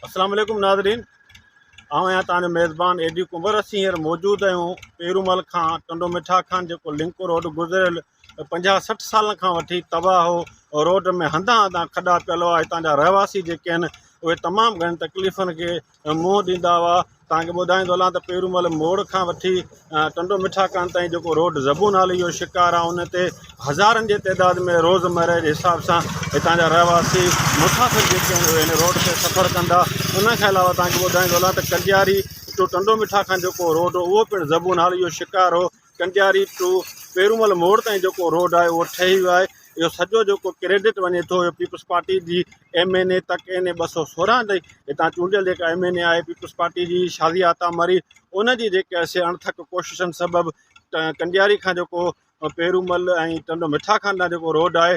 اسلام عليڪم ناظرين آئون آهيان تان جو ميزبان اي ڊي ڪنور اسين هينئر موجود آهيون پيرومل کان ٽنڊو مٺا کان جيڪو لنڪ روڊ گذريل پنجاهه سٺ سالن کان وٺي تباهه هو روڊ ۾ هنڌان هنڌان کڏا پيل هئا هتان جا رهواسي جيڪي آهن اهي تمام گهڻين تڪليفن کي منهن ڏيندا هئا توهان کي ٻڌائيندو هلان ته پيرومل موڙ کان وٺي ٽنڊو مٺا ڪان تائين جيڪو روڊ زبون نالي جو شڪار آهي ان تي هزارن جي تعداد ۾ روزمره جي حساب سان هتان جا رهواسي مسافر جيڪي آهن اهي هن روڊ تي سفر ڪندا ان کان علاوه توهان کي ٻڌائيندو هلان ته ڪنڊياري ٽو ٽنڊو مٺا کان جيڪو روڊ هو اهو پڻ زبون نالي جو شڪار هو ڪنڊياري ٽو پيرومل موڙ تائين جيڪو روڊ آهي اهو ٺهي ويو آهي اهو سڄو جيڪو ڪريڊٽ وڃي ٿو اهو پيپلز پارٽي جي ايم اين اي تڪ اين اي ٻه سو سورهن تي هتان چونڊيل جيڪا ايم اين اي آهي پيپلز پارٽي جي شازيا عطا مري ان جي جيڪي سي اڻٿڪ ڪوششن سبب ڪنڊياري کان جيڪو پيرومل ۽ ٽنڊو مٺا خان ڏانهن جيڪو روڊ آهي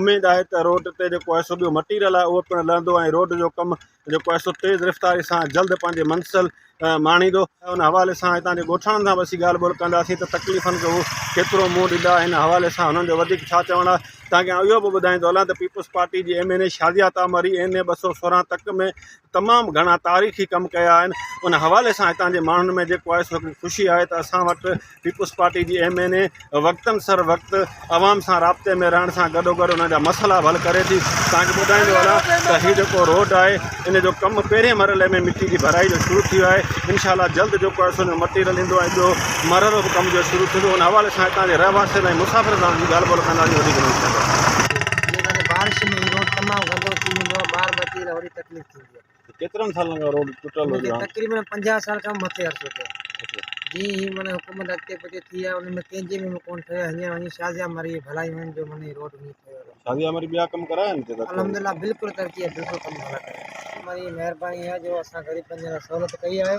اميد آهي ته روڊ تي جيڪو ايسو ٻيو مٽيريل آهي اهو پڻ لهندو ۽ روڊ جو ڪم جيڪو آهي سو تيز رفتاري سان جلد پنهنجي منزل ماڻيندو ان حوالي سان هتان جي ڳوٺاڻن سان به اسين ڳالهه ٻولهه ڪنداسين ته تڪليفن کي هو ڪيترو منهن ڏيندا ان حوالي سان هنن جو وڌيڪ ڇا چوڻ آهي تانڪه آئون اهو به ٻڌائيندو هلان ته پيپلز پارٽي جي M N A Shazia تامري N A ٻه سؤ سورهن تڪ ۾ تمام گهڻا تاريخي ڪم ڪيا آهن ان حوالي سان هتان جي ماڻهن ۾ جيڪو آهي سو خوشي آهي ته اسان وٽ پيپلز پارٽي جي ايم اين اي وقتن سر وقت عوام سان رابطي ۾ رهڻ سان گڏوگڏ انهن جا مسئلا به حل ڪري ٿي توهان کي ٻڌائيندو هلان ته هي جيڪو روڊ آهي ان جو ڪم پهرين مرحلي ۾ مٽي جي ڀرائي جو شروع ٿي ويو آهي انشاء الله جلد جيڪو آهي سو مٽيريل ايندو ۽ ٻيو مرحلو به ڪم جو شروع ٿيندو ان حوالي سان هتان جي رهواسين ۽ مسافرن سان به ڳالهه ٻولهه ڪنداسين وڌيڪ نيوز سينٽر بارش ۾ هي روڊ تمام گندو ٿي ويندو آهي ٻار ٻچي لاء وڏي تڪليف ٿيندي آهي ڪيترن سالن کان روڊ ٽٽل هجي ها تقريبن پنجاهه سال کان مٿي عرصو ٿيو جي هي من حڪومت اڳتي پڳتي ٿي آهي ان ۾ ڪنهن جي ۾ ڪون ٺهي ها هينئر وڃي شازيا مري ڀلائي وڃ جو من هي روڊ هينئر ٺهيو ها شازيا مري ٻيا ڪم ڪرايا آهن هتي الحمدلله بلڪل ترقي آهي بلڪل ڪم ڀلا ڪرايا آهن مري مهرباني آهي جو اسان غريب بندن لاء سهولت ڪئي آهي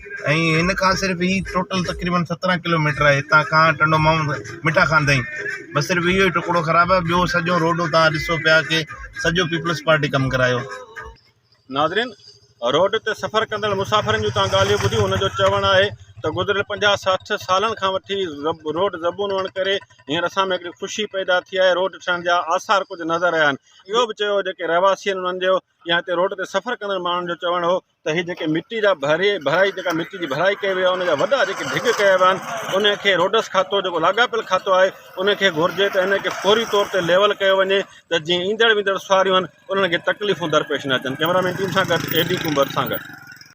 ۽ هن کان صرف هي ٽوٽل تقريبن سترهن ڪلو ميٽر آهي هتان کان ٽنڊو ماڻهو مٺا خان تائين بس صرف اهو ئي ٽڪڙو خراب آهي ٻيو سڄو روڊ تان ڏسو پيا ڪي سڄو پيپلز پارٽي ڪم ڪرايو ناظرين روڊ تي سفر ڪندڙ مسافرن جون تان ڳالهيون ٻڌيون ان جو چوڻ آهي ته گذريل پنجاهه ساٺ سالن کان وٺي روڊ زبون هئڻ ڪري هينئر اسان ۾ هڪڙي خوشي پيدا ٿي آهي روڊ ٺهڻ جا آثار ڪجهه نظر آيا آهن اهو به چيو جيڪي رهواسي آهن انهن جو يا هتي روڊ تي سفر ڪندڙ ماڻهن جو چوڻ هو ته هي جيڪي مٽي جا ڀري ڀرائي جيڪا مٽي جي ڀرائي ڪئي وئي آهي ان جا وڏا جيڪي ڍڳ ڪيا ويا آهن ان کي روڊس کاتو جيڪو لاڳاپيل کاتو آهي ان کي گهرجي ته ان کي فوري طور تي ليول ڪيو وڃي ته جيئن ايندڙ ويندڙ سواريون آهن انهن کي تڪليفون درپيش نه اچن ڪئميرا مين ٽيم سان گڏ اي ڊي ڪنڀر سان گڏ